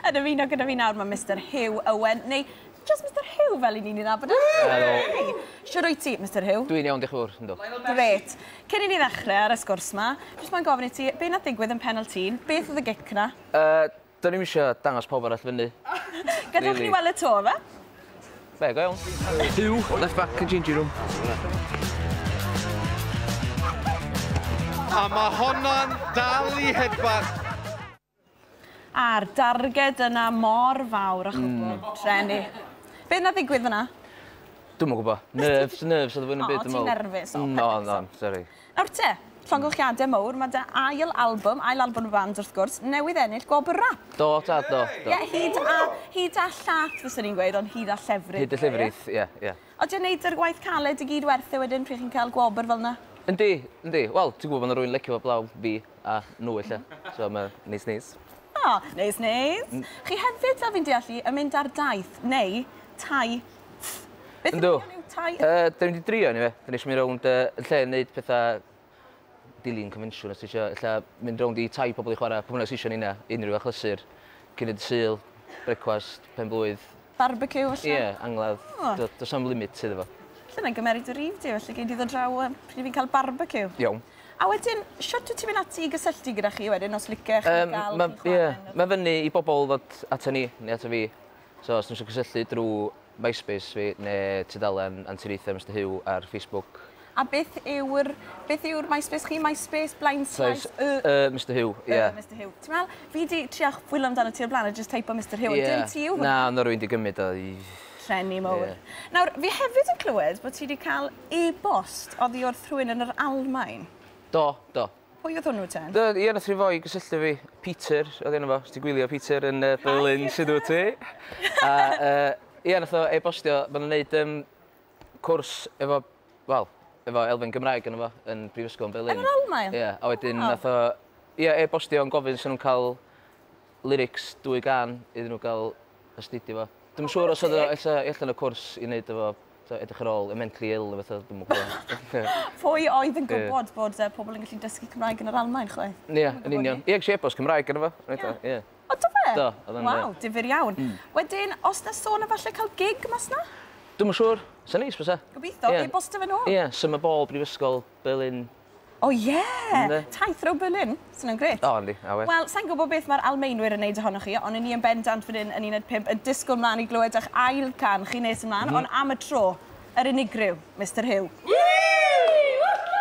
Yn ymuno gyda fi nawr mae Mister Huw Owen, neu jyst Mister Huw fel i ni'n ei nabod e. Helo! Shwd wyt ti, Mister Huw? Dwi'n iawn, diolch yn fawr, yndw. Grêt. Cyn i ni ddechrau ar y sgwrs 'ma, jyst moyn gofyn i ti, be wnaeth ddigwydd yn Pennal Tîn? Beth oedd y gic 'na? Yy, do'n i'm isio dangos pawb arall fyny. Gadewch i ni weld y to, ife? Be, go iawn? Huw, left back yn changing room. A mae honna'n dal i hedfan! A'r darged yna mor fawr a chwbl drueni. Be nath ddigwydd fynna? Dwi'm yn gwbo. Nerves nerves o'dd o fwy na'm byd dwi me'wl. O ti'n nerfus o peth bynnag. O'n o'n sori. Nawr te, llongyllchiade mowr ma' dy ail albwm, ail albwm y band wrth gwrs, newydd ennill gwobr rap. Do tad do do. Ie hyd a hyd a llath fyswn i'n gweud ond hyd a llefrith. Hyd a llefrith ie ie. Odi o'n neud yr gwaith caled i gyd werth e wedyn pryd chi'n ca'l gwobr fel 'na? Yndi yndi wel ti'n gwbo ma' 'na rywun licio fo 'blaw fi. A nhw ella. So ma' neis neis. O! Neis neis. M-... Chi hefyd fel fi'n deall i yn mynd ar daith neu tai ff. Beth yw'r gair yw tai ff? Yy 'dyn ni 'di drio eniwe. 'Dyn ni isio mynd rownd yy yn lle neud petha dilyn confensiwn os ti isio ella mynd rownd i tai pobol i chwara pw bynnag sy isio ni 'na unryw achlysur cyn y dy Sul, brecwast, pen-blwydd. Barbeciw falle? Ie, angladd. O! Do- do's na'm limit iddo fo. Lle mae'n gymeryd dy rif di, felly gei di ddod draw yym pryd fi'n ca'l barbeciw. Iawn. A wedyn, shwt wyt ti mynd ati i gysylltu gyda chi wedyn os licech chi Yym, ga'l ma', chi ie, chware yn y... ma' fyny i bobol ddod ata ni, neu ata fi. So, os n'w isio cysylltu drw MySpace fi, ne' tudalen Anturiaethau Mister Huw ar Facebook, A beth yw'r... beth yw'r MySpace chi? MySpace, Blind Slice, Y... Y Mister Huw, ie. Y Mister Huw. Ti'n meddwl, fi 'di trio chwilio amdano ti o'r blaen a jyst teipo Mister Huw, ond dim ti yw hwnna. Na, oedd 'na rywun 'di gymryd o i... Llenni mowr. Ie. Nawr, fi hefyd yn clywed bod ti 'di cael e-bost oddi wrth rhywun yn yr Almaen. Do, do. Pwy oedd hwnnw ten? Do, ie, nath rhyw foi gysylltu fi. Peter oedd enw fo, os ti'n gwylio Peter yn yy Berlin, shwd wt ti? A yy ie, nath o e-bostio, ma' nhw'n neud yym cwrs efo, wel, efo elfen Gymraeg yno fo yn Brifysgol yn Berlin. Yn yr Almaen? Ie, a wedyn oh. nath o, ie, e-bostio yn gofyn sy'n nhw'n cael lyrics dwy gan iddyn nhw gael astudio fo. Dwi'n oh, siŵr os oedd o allan y cwrs i wneud efo edrych ar ôl y mentally ill efo fath dwi'n gwybod. Pwy oedd yn gwybod yeah. bod uh, pobl yn gallu dysgu Cymraeg yn yr Almaen, chwe? Ie, yeah, yn union. Ie, yeah, eisiau e-bost Cymraeg yn efo. Ie. Yeah. Yeah. O, do fe? Do, odd o'n grêt. Waw, difyr iawn. Wedyn, os 'na sôn am falle ca'l gig mas 'na? Dwi'm yn siŵr. Sa neis bysa. Gobeithio. Ie. E-bostio fe nôl. Ie, Summer Ball, Brifysgol, Berlin. O ie! Ynde? Taith rownd Berlin. Sa wnna'n grêt. O, yndi. Awe. Wel, sai'n gwbo beth ma'r Almaenwyr yn neud ohonoch chi, on' 'yn ni yn bendant fan 'yn yn Uned Pump yn disgwl mlan i glywed 'ych ail can chi nes ymlan, on' am y tro, yr unigryw, Mister Huw. Woohoo!